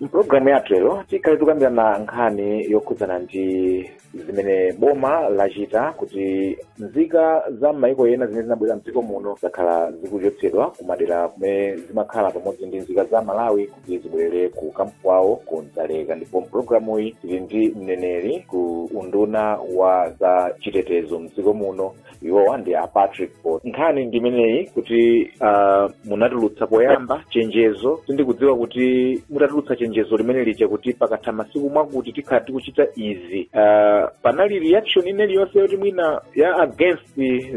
mpulogalamu yathu lero tikhale tikukambirana nkhani yokhudzana ndi zimene boma lachita kuti nzika za m'mayiko ena zimene zinabwera mdziko muno zakhala zikuchotsedwa kumadera kumene zimakhala pamodzi ndi nzika za malawi kuti zibwerere ku kampu kwawo ku dzaleka ndipo mpulogalamuyi tili ndi mneneri ku unduna wa za chitetezo mdziko muno iwowa ndi a patrick botha nkhani ndi imeneyi kuti uh, munatulutsa poyamba chenjezo sindikudziwa kuti mutatulutsa chenjezo limene lija kuti pakatha masiku mwakuti tikhala tikuchita izi uh, panali reaction ina iliyonse yoti mwina ya against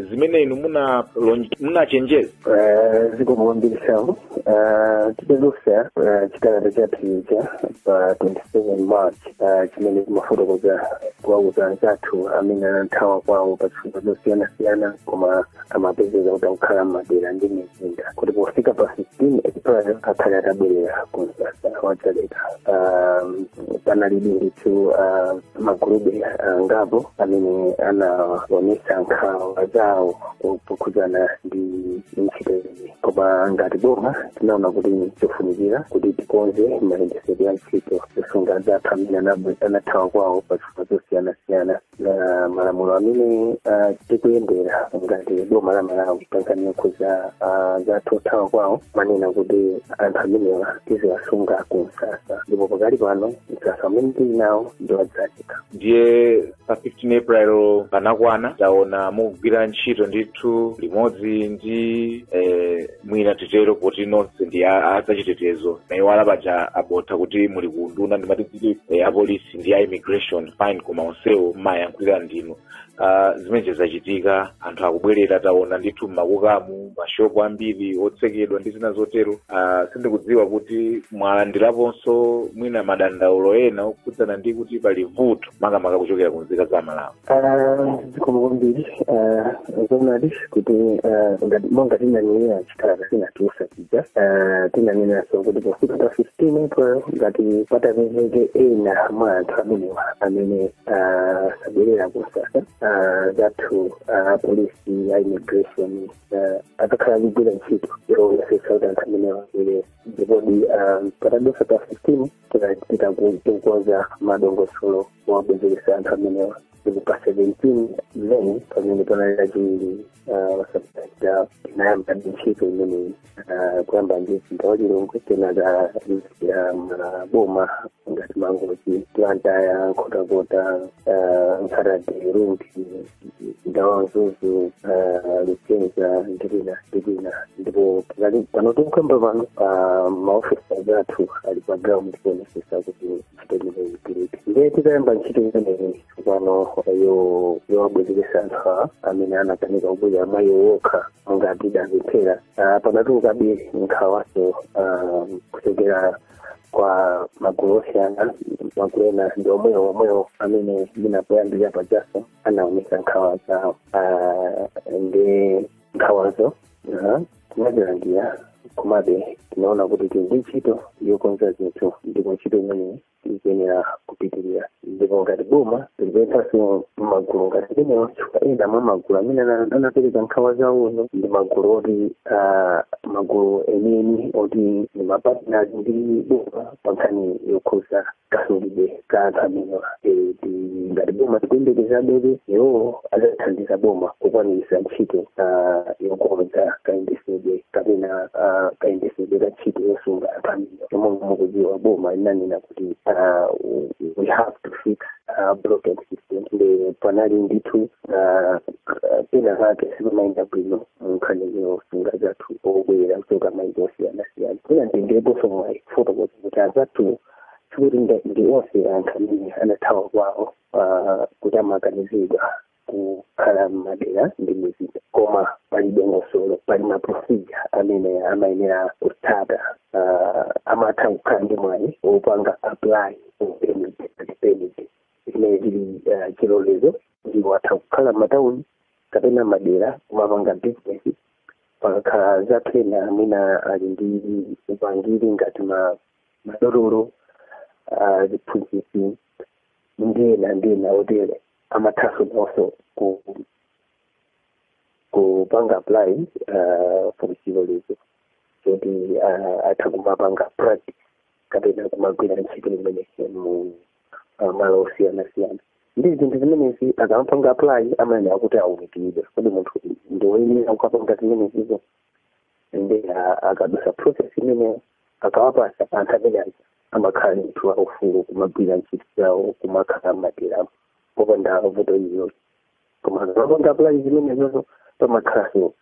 zimene inu munalonj- munachenjeza Eh, zikomo kwambiri samu Ah, tidatulutsa ah, chikalata chathu chija pa 27 march ah, chimene chimafotokoza kuwauza anzathu amene anathawa kwawo pa zifukwa zosiyanasiyana koma amapezeka kuti akukhala m'madera ndi mizinda kuti pofika pa 15 april akhale atabwerera ku msasa wa dzaleka Ah, panalibe ndithu ah, magulu angapo amene anaonesa nkhawa zawo pokhudzana ndi ntchito iyi koma ngati boma tinaona kuti chofunikira kuti tikonze mayendetsedwe a ntchito yosunga anzathu amene anabwe- anathawa kwawo pa zifukwa zosiyanasiyana na malamulo amene ah, tikuyendera ngati boma la malawi pankhani yokhudza anzathu othawa kwawo amanena kuti anthu amenewa tiziwasunga ku msasa ndipo pakali pano msasa amene tili nawo ndi wa dzaleka ndiye pa 15 april pa nakwana taona mukugwira ntchito ndithu limodzi ndi eh, mwina titero kuti nonse ndi a- a zachitetezo ndayiwala paja a botha kuti muli ku unduna ndimati kuti eh, apolisi ndi a immigration fine koma onsewo mumayankhulira ndinu uh, zimenezi zachitika anthu akubwerera taona ndithu mmakukamu mashopu ambiri otsekedwa ndi zina zotero uh, sindikudziwa kuti mwalandiraponso mwina madandaulo ena okhudzana ndi kuti pali vuto makamaka kuchokera ku nzika za malawi Ah, zikomo kwambiri Ah, zoonadi kuti ah, ngati- monga tinanenera chikalata tinatulutsa ija eh, tinanenanso kuti pofika pa 15 april ngati patapezeke ena mwa anthu amenewa amene ah, sabwerera ku msasa ah, anzathu apolisi a immigration ah, akakhala akugwira ntchito yoyesetsa kuti anthu amenewa abwerere ndipodi ah, patadutsa pa 15 tinachita kukonza madongosolo owabwezeretsa anthu amenewa ndipo pa 17 may pamene panali lachiwiri lapitalo tinayamba ndi ntchito imeneyi Ah, kuyamba ndi mzinda wa lilongwe kenaka maboma ngati mangochi blantyre nkhotakota ah, nkhata bay rumphi ndawa Mzuzu lisenza ndi kwina ndi kwina ndipo tikali pano tikukamba pano pa maofisi athu ali pa ground kuonesesa kuti ntchito imeneyi igwirike ndiye titayamba ntchito imeneyi pano yo yowabwezeretsa anthu awa amene anakanika kubwera mwa iwo okha monga tidapemphera pano panatulukabe nkhawaso kuchokera kwa magulu osiyana magulu ena ndi omwewo omwewo amene ndi poyamba pajanso anaonesa nkhawa zawo Ah, ndi nkhawazo aha, tinazilandira komabe tinaona kuti tili ndi ntchito yokonza zinthu ndipo ntchito imeneyi iyenera kupitirira ndipo ngati boma tipemphanso magulu ngati amenewa chifukwa ena mwa magulu amene ana- anapereka nkhawa zawozo ndi magulu oti ah, magulu enieni oti ndi ma partners ndi boma pa nkhani yokhudza kasungidwe ka anthu amenewa Eh, ti- ngati boma tikuyembekezabe iwowo azathandiza boma kukwaniritsa ntchito ah, yokonza kayendesedwe kapena ah, kayendesedwe ka ntchito yosunga anthu amenewa monga mukudziwa boma linanena uh, we have to fix uh, broken system panali ndithu uh, uh, pena pake sipamayenda bwino nkhani yosunga anzathu obwera kuchoka maiko osiyanasiyana mwina nditengeponso mwayi kufotokoza kuti anzathu sikuti ndi onse anthu amene anathawa kwawo uh, kuti amakanizidwa kukhala m'madera ndi mizinda koma pali dongosolo pali ma procedure amene amayenera kutsata uh, amatha kukhala ndi mwayi wopanga apply permit permit imene ili uh, chilolezo ndipo atha kukhala m'matauni kapena madera kumapanga business pakakhala anzathu ena amene ali ndi upangiri ngati ma madotolo uh, aziphunzitsi ndi ena ndi ena otere amathaso nawonso ku kupanga apply uh, for chilolezo choti uh, atha kumapanga practice kapena kumagwira ntchito imene mu uh, malo osiyanasiyana ndiye zinthu zimenezi akamapanga apply amayenera kuti aunikidwe kodi munthu ndiwoyenera kukapanga zimenezizo ndiye uh, akadutsa process imeneyo akawapatsa anthu amenewa amakhala ndithu aufulu kumagwira ntchito zawo kumakhala m'maderamu popanda vuto iliyonse koma akapanga apply zimenezozo pamakhalanso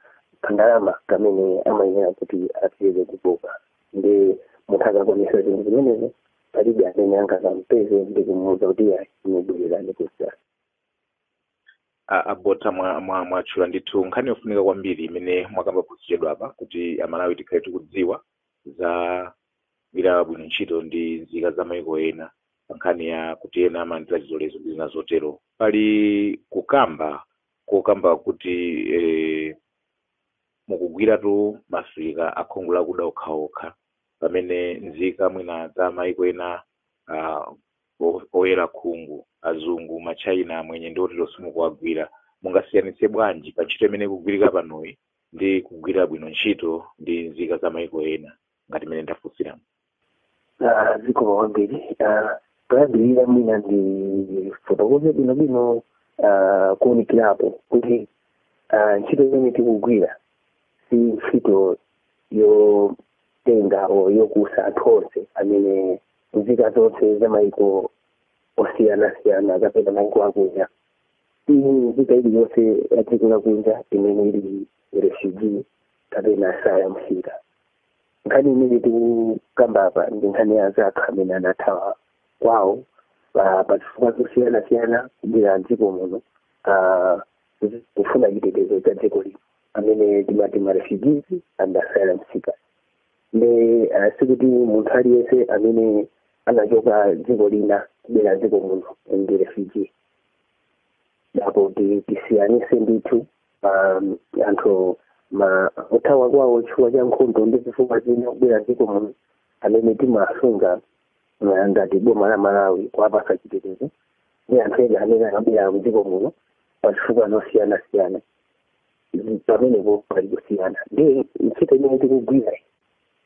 kandalama kamene amayenera kuti apereke ku boma ndiye munthu akakwanisa zinthu zimenezo palibe amene angazampeze ndi kumuuza kuti ayi inu bwererani kusiyana a- a botha mwa- mwa- mwatchula ndithu nkhani yofunika kwambiri imene mwakamba posachedwa apa kuti amalawi tikhale tikudziwa za gwira bwino ntchito ndi nzika za maiko ena pa nkhani ya kuti ena amalandira zilolezo ndi zina zotero pali kukamba kokamba kuti eh, mukugwiratu maafrika akhungu lakuda okhaokha pamene nzika mwina za maiko ena ah, o- oyera khungu azungu matchaina amwenye ndi otero simukuwagwira mungasiyanitse bwanji pa ntchito imene ikugwirika panoyi ndi kugwira bwino ntchito ndi nzika za maiko ena ngati mmene ndafunsiramo Ah, zikomo kwambiri Ah, poyambirira mwina ndifotokoze bwinobwino ah, kuunikirapo kuti ah, ntchito imene tikugwira si ntchito yotenga o yokusa anthu onse amene nzika zonse za maiko osiyanasiyana kapena maiko akunja ayi nzika iliyonse ya dziko lakunja imene ili refugee kapena asylum seeker nkhani imene tikukamba apa ndi nkhani ya anthu amene anathawa kwawo pa pa zifukwa zosiyanasiyana kubwera mdziko muno ah, zi- kufuna chitetezo cha dziko lino amene timati ma refugees and asylum seekers nde eh, sikuti munthu aliyense amene anachoka dziko lina kubwera dziko muno ndi refugee apo ti- tisiyanise ndithu pa mm, anthu ma othawa kwawo chifukwa cha nkhondo ndi zifukwa zina kubwera dziko muno amene timasunga eh, ngati boma la malawi kuwapasa chitetezo ndi anthu ena amene anabwera mdziko muno pa zifukwa zosiyana siyana pamenepo pali kusiyana nde ntchito imene tikugwira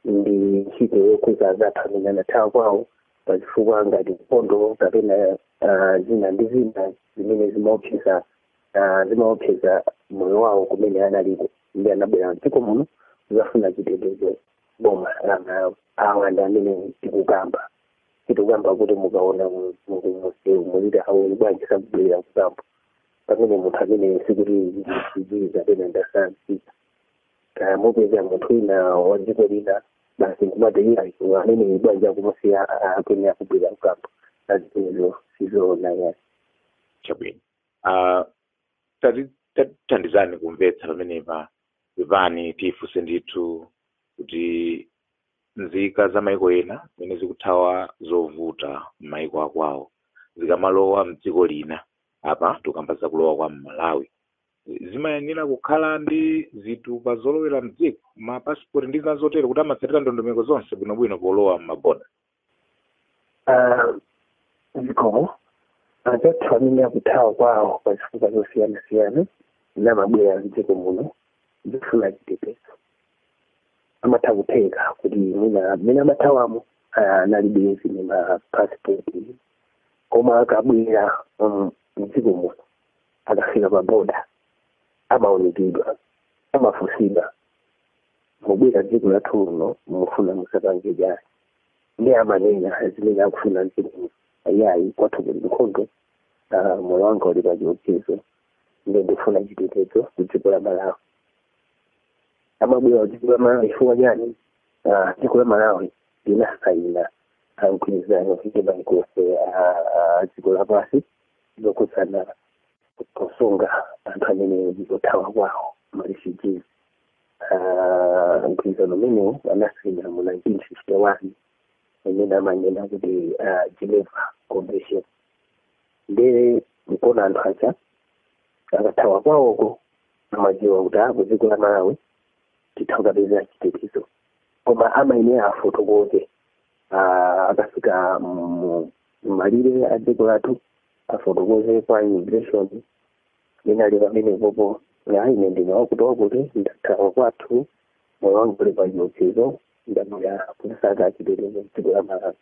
ndi ntchito yokhudza anzathu amene anathawa kwawo pazifukwa ngati nkhondo kapena ah, zina ndi zina zimene zimaopseza ah, zimaopseza moyo wawo kumene analiko nde anabwera mdziko muno kuzafuna chitetezo boma la malawi awa ndi amene tikukamba tikukamba kuti mukaona mzungu muziti awa bwanji sakubwera ku camp pamene munthu amene sikuti refugee kapena asylum seeker kaya mupeza munthu wina wa dziko lina basi nkumateira amene bwanji akumusiya akene akubwera ku camp izo sizoona ayi chabwino Ah, tati- tatithandizani kumvetsa pamenepa pepani tifunse ndithu kuti nzika za maiko ena zimene zikuthawa zovuta m'maiko akwawo zikamalowa mdziko lina apa tikamba zakulowa kwa mmalawi zimayenera kukhala ndi zitupa zolowera mdziko mapasipoti ndi zina zotero kuti amatsatira ndondomeko zonse bwinobwino polowa m'maboda Ah, zikomo anthu amene akuthawa kwawo pa zifukwa zosiyanasiyana namabwera mdziko muno kudzafuna chitetezo amatha kutheka kuti mwina mmene amathawamo ah, analibe zimene ma passport koma akabwera mm, mdziko muno akafika pa boda amaunikidwa amafunsidwa mubwera dziko lathu lino mufuna muzapange chani nde amanena zimene akufuna mdziko muno ayayi kwathu kuli nkhondo ah, moyo wanga uli pa chiopsezo nde ndifuna chitetezo ku dziko la malawi amabwera dziko la malawi chifukwa chani Ah, dziko la malawi linasaina mgwirizano ndi maiko onse a dziko lapansi zokhudzana kusunga anthu amene ndi othawa kwawo ma refugees Ah, mgwirizano umenewu anasaina mu 1951 umene amanena kuti ah, geneva convention nde nkona anthu aja akathawa kwawoko amadziwa kuti a kudziko la malawi titha kukapeza chitetezo koma amayenera afotokoze ah, akafika mu- malire a dziko lathu afotokoze kwa immigration nthawi yomwe pompo kuti ine ndine wakuti wakuti ndathawa kwathu moyo wanga uli pa chiopsezo ndabwera kuzasaka chitetezo mdziko la malawi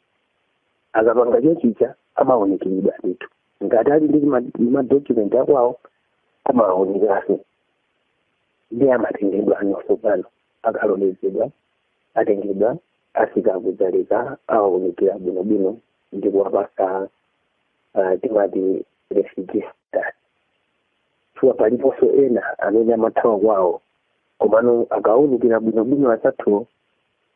akapanga choncho amaunikiridwa ndithu ngati ali ndi ma- madocument akwawo amaunikanso nde amatengedwa ano tsopano akalolezedwa atengedwa afika ku Dzaleka awaunikira bwinobwino ndi kuwapatsa uh, timati refugee status chifukwa aliponso ena amene amathawa kwawo komano akawaunikira bwinobwino azathu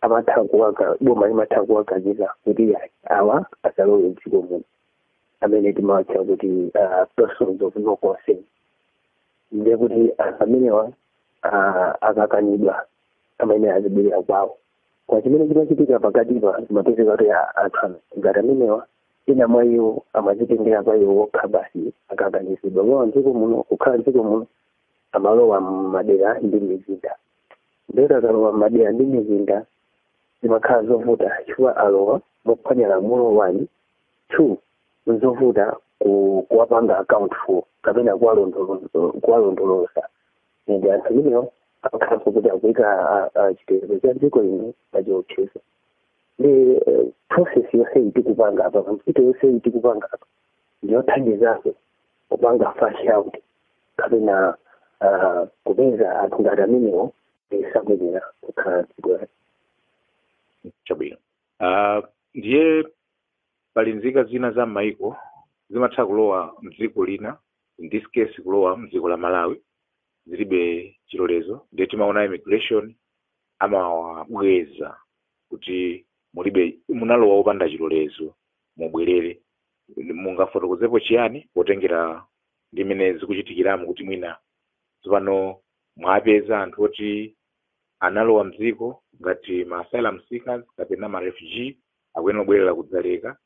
amatha kuwaka boma limatha kuwakaniza kuti ayi, awa asalowe mdziko muno amene timawatcha kuti uh, persons of no concern ndiye kuti anthu amenewa ah, akakanidwa amayenera azibwerera kwawo koma chimene chimachitika pakatipa kumapezeka kuti anthu ngati amenewa ena mwa iwo amazitengera mwa iwo okha basi akakanizidwa kulowa mdziko muno kukhala mdziko muno amalowa mmadera ndi mizinda ndetu akalowa mmadera ndi mizinda zimakhala zovuta chifukwa alowa mophwanya lamulo one two nzovuta ku- kuwapanga account for kapena kuwalondolo- kuwalondoloza ndi anthu amenewo akakhalanso kuti akuika a- a- chitetezo cha dziko lino pa chiopsezo nde eh, process yonse iyi tikupanga apa ntchito yonse iyi tikupanga apa ndiyothandizanso kupanga flush out kapena ah, kupeza anthu ngati amenewo osayenera kukhala dziko lathu chabwino Ah, ndiye pali nzika zina za m'mayiko zimatha kulowa mdziko lina in this case kulowa mdziko la malawi zilibe chilolezo ndiye timaona immigration amawabweza kuti mulibe munalowa opanda chilolezo mubwerere mungafotokozepo chiyani potengera ndi mmene zikuchitikiramo kuti mwina tsopano mwapeza anthu oti analowa mdziko ngati ma asylum seekers kapena ma refugee akuyenera kubwerera ku Dzaleka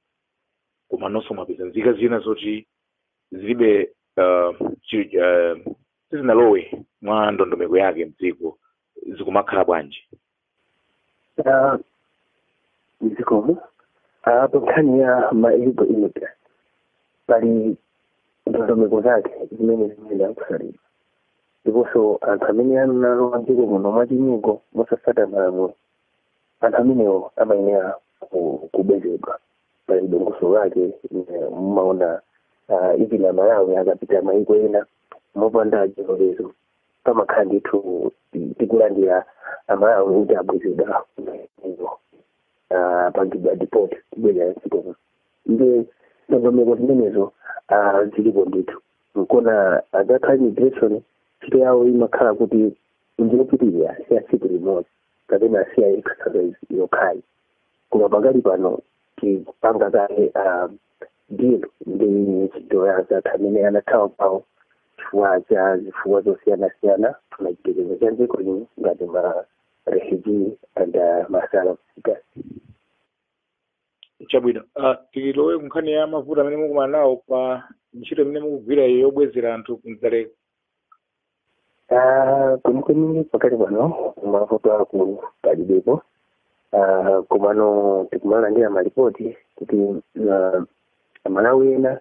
komanonso mwapeza nzika zina zoti zilibe uh, chi, uh, sizinalowe mwa ndondomeko yake mdziko zikumakhala bwanji Ah, zikomo Ah, pa nkhani ya ma illegal immigrants pali ndondomeko zake zimene zimene amatsatira ndipo anthu amene analowa mdziko muno mwachinyengo mosatsata malamulo anthu amenewo amayenera ku- kubwezedwa pali dongosolo lake eh, mumaona ah, even amalawi akapita maiko ena mopanda chilolezo pamakhala ndithu ti- tikulandira amalawi kuti abwezedwa izo pangidwa deport kubwerera mdziko muno nde ndondomeko zimenezo ah, zilipo ndithu nkona akakhala immigration ntchito yawo imakhala kuti njiyopitirira si ya tsiku limodzi kapena si ya exercise yokhayi koma pakali pano tikupanga kaye ah, deal ndi ntchito ya anzathu amene anathawa kwawo chifukwa cha zifukwa zosiyanasiyana kufuna chitetezo cha dziko lino ngati ma refugee and uh, ma asylum seeker chabwino uh, tilowe kunkhani ya mavuto amene mukumana nawo pa ntchito imene mukugwira iyo yobwezera anthu ku Dzaleka Ah, kwenikweni pakali pano mavuto akulu palibepo Ah, komano tikumalandira malipoti kuti ah, amalawi ena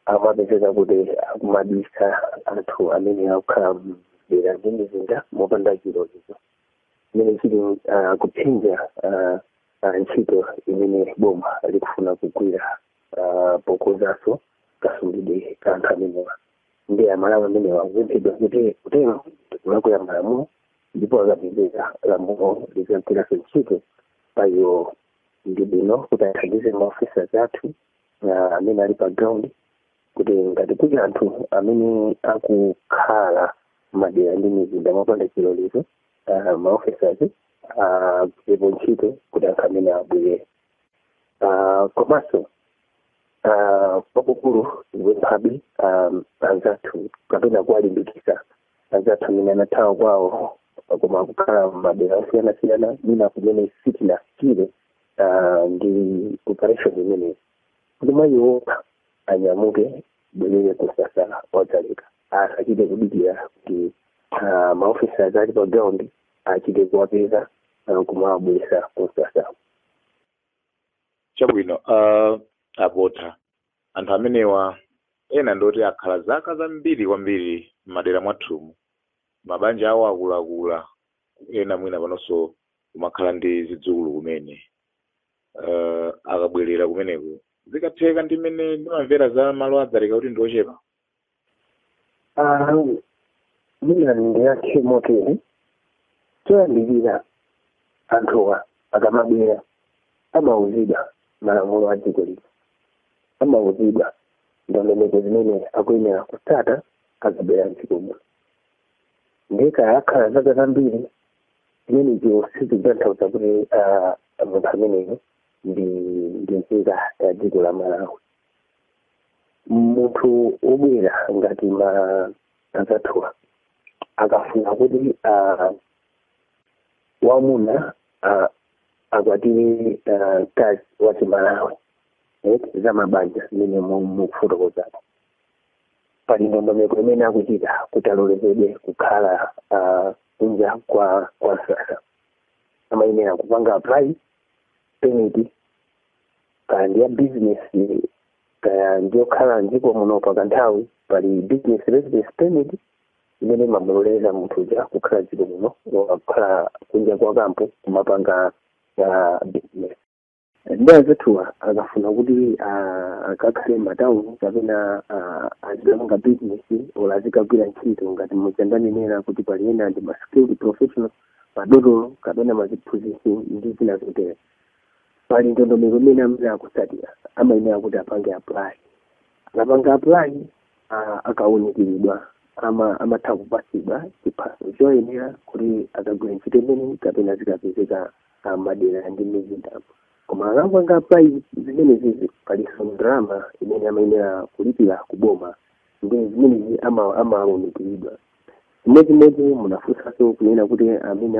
amapezeka kuti akumabisa anthu amene akukhala m'madera ndi m'mizinda mopanda chilolezo chimene chili ah, kuphinja ah, ah, ntchito imene boma likufuna kugwira ah, pokozanso kasungidwe ka anthu amenewa ndi amalawi amenewa akupemphedwa kuti kutero nkulakwira malamulo ndipo akapezeka lamulo lidzagwiranso ntchito pa iwo ndi bwino kuti athandize maofisa athu amene ali pa ground kuti ngati kuli anthu amene akukhala madera ndi mizinda mopanda chilolezo ah, maofisa agwirepo ntchito kuti anthu amenewa abwerere Ah, komanso Ah, kwakukulu ndikupemphabe um, anzathu kapena kuwalimbikisa anzathu amene anathawa kwawo koma akukhala madera osiyanasiyana mwina kumene sitinafikire ah, ndi operation imeneyi kuti mwa iwo okha anyamuke abwerere kumsasa wa dzaleka asachite kudikira kuti ah, maofisa amene ali pa ground achite kuwapeza ah, kumawabweresa kumsasa chabwino uh, abotha anthu amenewa ena ndoti akhala zaka zambiri kwambiri m'madera mwathumu mabanja awo akuluakulu ena mwina panonso kumakhala ndi zidzukulu kumene uh, akabwerera kumeneko zikatheka ndi mmene ndimamvera za malo adzaleka kuti ndiochepa mwina ndiyankhe motere choyambirira anthuwa akamabwera amauzidwa malamulo a dziko lino amauzidwa ndondomeko zimene akuyenera kutsata akabwera mdziko muno nde kaya akhala zaka zambiri zimenezo sizikutanthauza kuti munthu ameneyo ndi ndi nzika ya dziko la malawi munthu obwera ngati ma anzathuwa akafuna kuti ah, wamuna ah, akwatire ah, mkazi wa chimalawi eh, za mabanja zimene mu- mukufotokozako pali ndondomeko imene akuchita kuti alolezedwe kukhala ah, kunja kwa kwa msasa amayenera kupanga apply permit kaya ndi ya bizinesi kaya ndiyokhala mdziko muno pakanthawi pali business residence permit imene imamuloleza munthu uja kukhala mdziko muno kukhala kunja kwa kampu kumapanga business ndi azathuwa akafuna kuti ah, akakhale m'matauni kapena ah, azikapanga business olo azikagwira ntchito ngati muja ndanenera kuti pali ena ndi maskilled professional madotolo kapena maziphunzitsi ndi zina zotero pali ndondomeko imene amene akutsatira amayenera kuti apange apply akapanga apply ah, akawunikiridwa ama amatha kupatsidwa chiphaso choyenera kuti akagwira ntchito imene kapena zikapezeka ah, madera ndi mizindapo koma akapanga apply zimenezi palinso ndalama imene amayenera kulipira kuboma ndi zimenezi ama- amawunikiridwa chimodzimodzi munafunsanso kunena kuti amene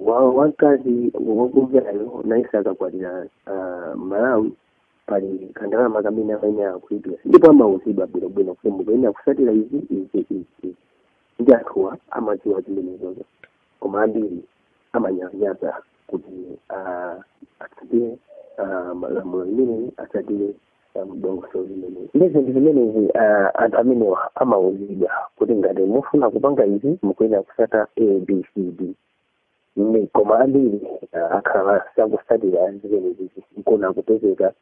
wa- wamkazi wakubwerayo nayenso akakwatira ah, malawi pali kandalama kamene amayenera kulipira ndipo amauzidwa bwinobwino kuti mukuyenera kutsatira izi izi izi izi ndi anthuwa amadziwa zimenezozo koma ambiri amanyalanyaza kuti ah, atsatire ah, malamulo amenewa atsatire dongosolo limeneli ndiye zinthu zimenezi ah, anthu amenewa amauzidwa kuti ngati mufuna kupanga izi mukuyenera kutsata abcd ndi koma ambiri ah, akhala sakutsatira zimenezi nkona kupezeka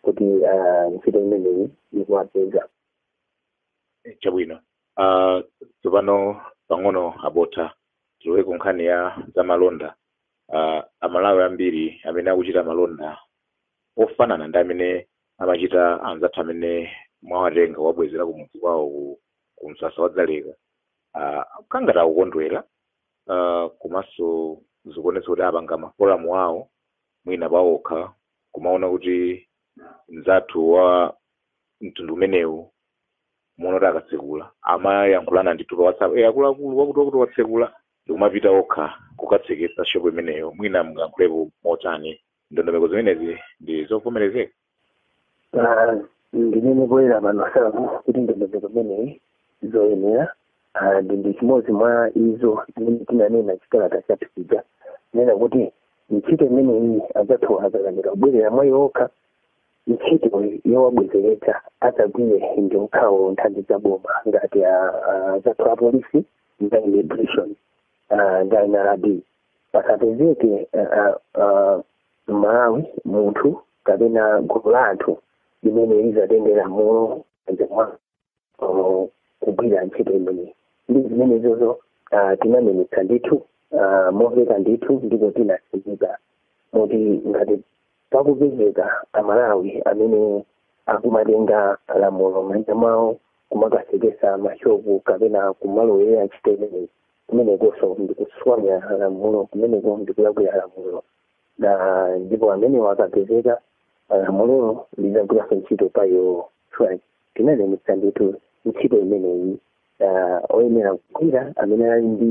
kuti ah, ntchito imeneyi ikuwapeza chabwino uh, tsopano pang'ono a Botha tilowe ku nkhani ya za malonda uh, amalawi ambiri amene akuchita malonda ofanana ndi amene amachita anzathu amene mwawatenga kuwabwezera kumudzi kwawo ku, ku msasa wa dzaleka uh, akhala ngati akukondwera uh, komanso zikuonetsa kuti apanga maforamu awo mwina pawokha kumaona kuti mzathu wa mtundu umenewu moona kuti akatsekula amayankhulana ndithu pa whatsapp e akuluakulu wakuti wakuti watsekula ndikumapita okha kukatseketsa shopu imeneyo mwina mungayankhulepo motani ndondomeko zimenezi ndi zovomerezeka Ah, ndinene poyera pano zakuti ndondomeko imeneyi siyoyenera Ah, ndi ndi chimodzi mwa izo zimene tinanena mchikalata chathu chija kunena kuti ntchito imeneyi anzathu akakanika kubwerera mwa iwo okha ntchito yowabwezeretsa adzagwire ndi okhawo nthambi za boma ngati ah, ah, anzathu apolisi ndi immigration ah, ndi nrb pasapezeke mmalawi munthu kapena gulu la anthu limene lizatenge lamulo kugwira ntchito imeneyi ndi zimenezozo tinanenetsa ndithu momveka ndithu ndipo tinatsindika moti ngati Pakupezeka amalawi amene akumatenga lamulo mmanja mwawo kumakatseketsa ma shop kapena kumalowera ntchito imeneyi, kumenekonso ndikuphwanya lamulo, kumeneko ndikulakwira lamulo na ndipo amenewo akapezeka lamulolo lizagwiranso ntchito pa iwowo chifukwa tinanenetsa ndithu ntchito imeneyi na oyenera kugwira amene ali ndi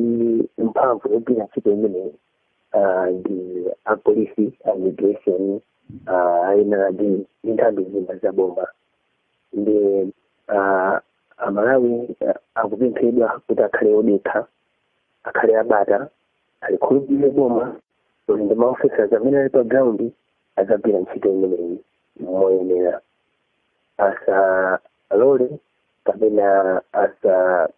mphamvu yogwira ntchito imeneyi. ah, ndi apolisi a immigration ah, NRB ndi nthambi zina za boma nde ah, amalawi ah, akupemphedwa kuti akhale odekha akhale abata alikhulupirire boma kuti ndi maofesers amene ali pa ground adzagwira ntchito imeneyi moyenera asalole kapena asa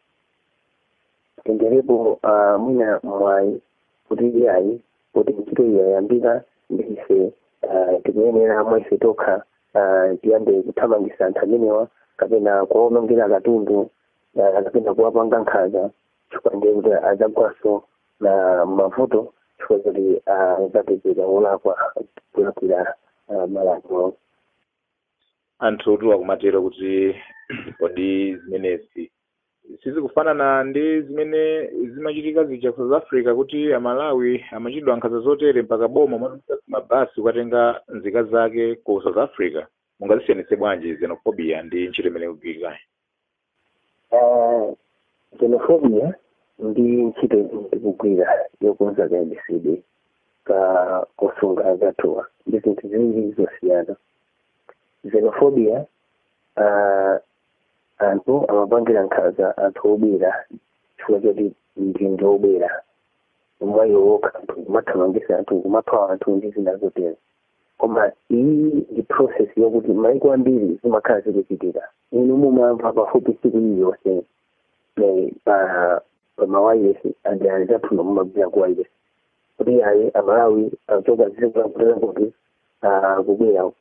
tengerepo uh, mwina mwayi kuti iyayi kuti ntchito iyi yayambika ndi ife uh, tikuyenera mwa ife tokha uh, tiyambe kuthamangisa anthu amenewa kapena kuwaonongera katundu uh, kapena kuwapanga nkhaza chifukwa ndiye kuti adzagwanso na mavuto chifukwa kuti adzapezeka olakwa kulakwira uh, malamulo anthu otuwa akumatero kuti kodi zimenezi sizikufanana ndi zimene zimachitika zija ku south africa kuti amalawi amachitidwa nkhanza zotere mpaka boma matumiza mabasi kukatenga nzika zake ku south africa mungazisiyanitse bwanji xenophobia ndi ntchito imene ikugwirikayi Ah, xenophobia ndi ntchito imene tikugwira yokonza kayendetsedwe ka kosunga othawa ndi zinthu ziwiri zosiyana xenophobia ah, anthu amapangira nkhaza anthu obwera chifukwa choti ndi ndi obwera mwa iwo wokha anthu kumathamangisa anthu kumapha anthu ndi zina zotero koma iyi ndi process yokuti maiko ambiri zimakhala zikuchitika inu mumamva pafupi tsiku iliyonse eh, pa pa mawayilesi ndi anzathunu mumagwira ku wayilesi kuti ayi amalawi achoka zikulankulira kuti ah, kubwera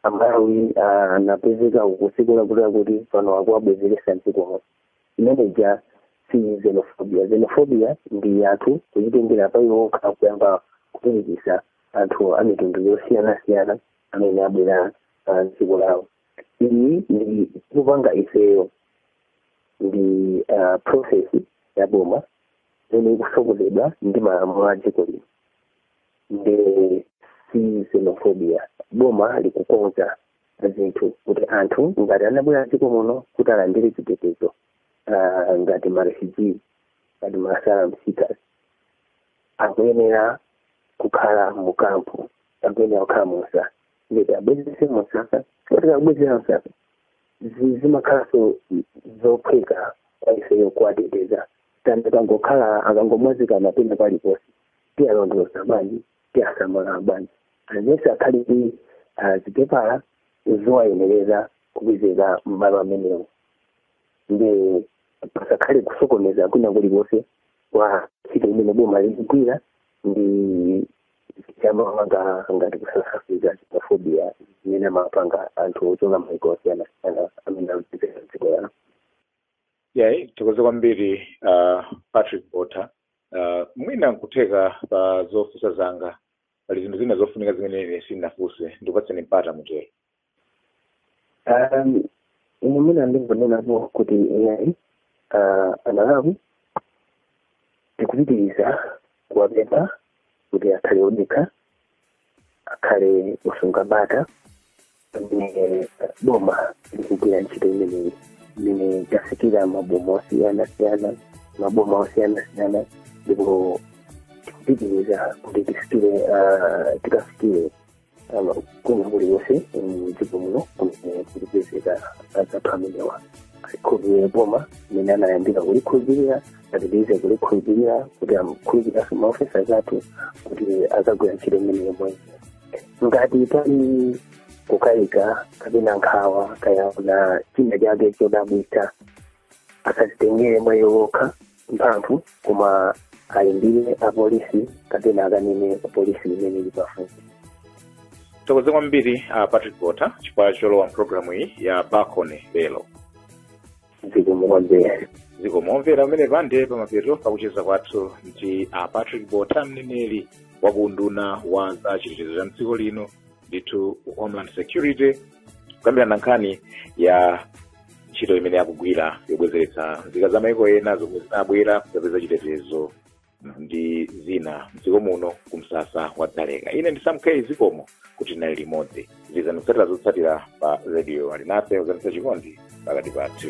amalawi ah, anapezeka kudziko lakutilakuti pano akuwabwezeretsa mdziko muno imeneja si xenophobia xenophobia ndi anthu kuchitengera pa iwo okha kuyamba kupirikisa anthu a mitundu yosiyanasiyana amene abwera ah, mdziko lawo iyi tikupanga ifeyo ndi ah, process ya boma imene ikutsogozedwa ndi malamulo a dziko lino nde si xenophobia boma likukonza zinthu kuti anthu ngati anabwera dziko muno kuti alandire chitetezo ah, ngati marefugee ngati ma asylum seekers akuyenera kukhala mu kampu akuyenera kukhala mu msasa nde tiwabwezese mu msasa koti tikawabwezera msasa zi- zimakhalanso zophweka kwa ifeyo kuwateteza than akangokhala akangomwazikana pena paliponse tiyalondoloza bwanji tiyasamala bwanji aliyense akhale ndi ah, zipepala zowayenereza kupezeka m'malo amenewo ndi pasakhale kusokoneza kwina kulikonse kwa ntchito imene boma likugwira ndi chamanga ngati kusasafika xenophobia imene amapanga anthu ochoka maiko osiyanasiyana amene amapezeka dziko lawo iyayi tithokoze kwambiri uh, patrick botha uh, mwina nkutheka pa zofunsa zanga pali zinthu zina zofunika zimene ine sindinafunse ndikupatseni mpata mutero Um, ine mwina ndingonenapo kuti iyayi uh, amalawi tikupitiriza kuwapempha kuti akhale odekha akhale osunga bata pamene boma likugwira ntchito imeneyi imene yafikira maboma osiyanasiyana maboma osiyanasiyana ndipo tikupitiriza kuti tifikire ah, tikafikire ah, kwina kulikonse mdziko muno kumene kukupezeka anzathu amenewa alikhulupirire boma mmene anayambira kulikhulupirira apitirize kulikhulupirira kuti akhulupirirenso maofesa athu kuti azagwira ntchito imeneyi moyenera ngati pali kukayika kapena nkhawa kaya aona china chake chodabwitsa asazitengere mwa iwo okha mphamvu koma ayimbire apolisi kapena akanene kupolisi imene ili pafupi tithokoze kwambiri a patrick botha chifukwa cholowa mpulogalamu iyi ya bakone lero zikomo kwambiri zikomo omvera pamenepa nde pamapeto pakucheza kwathu ndi a patrick botha mneneri wa ku unduna wa za chitetezo cha mdziko lino ndithu homeland security kukambirana nkhani ya ntchito imene akugwira yobwezeretsa nzika za maiko ena zomwe zinabwera kuzapeza chitetezo ndi zina mdziko muno ku msasa wa dzaleka ine ndi sam k zikomo kuti tinali limodzi pitirizani kutsatira zotsatira pa radio alinafe kudzetsa chikondi pakati pathu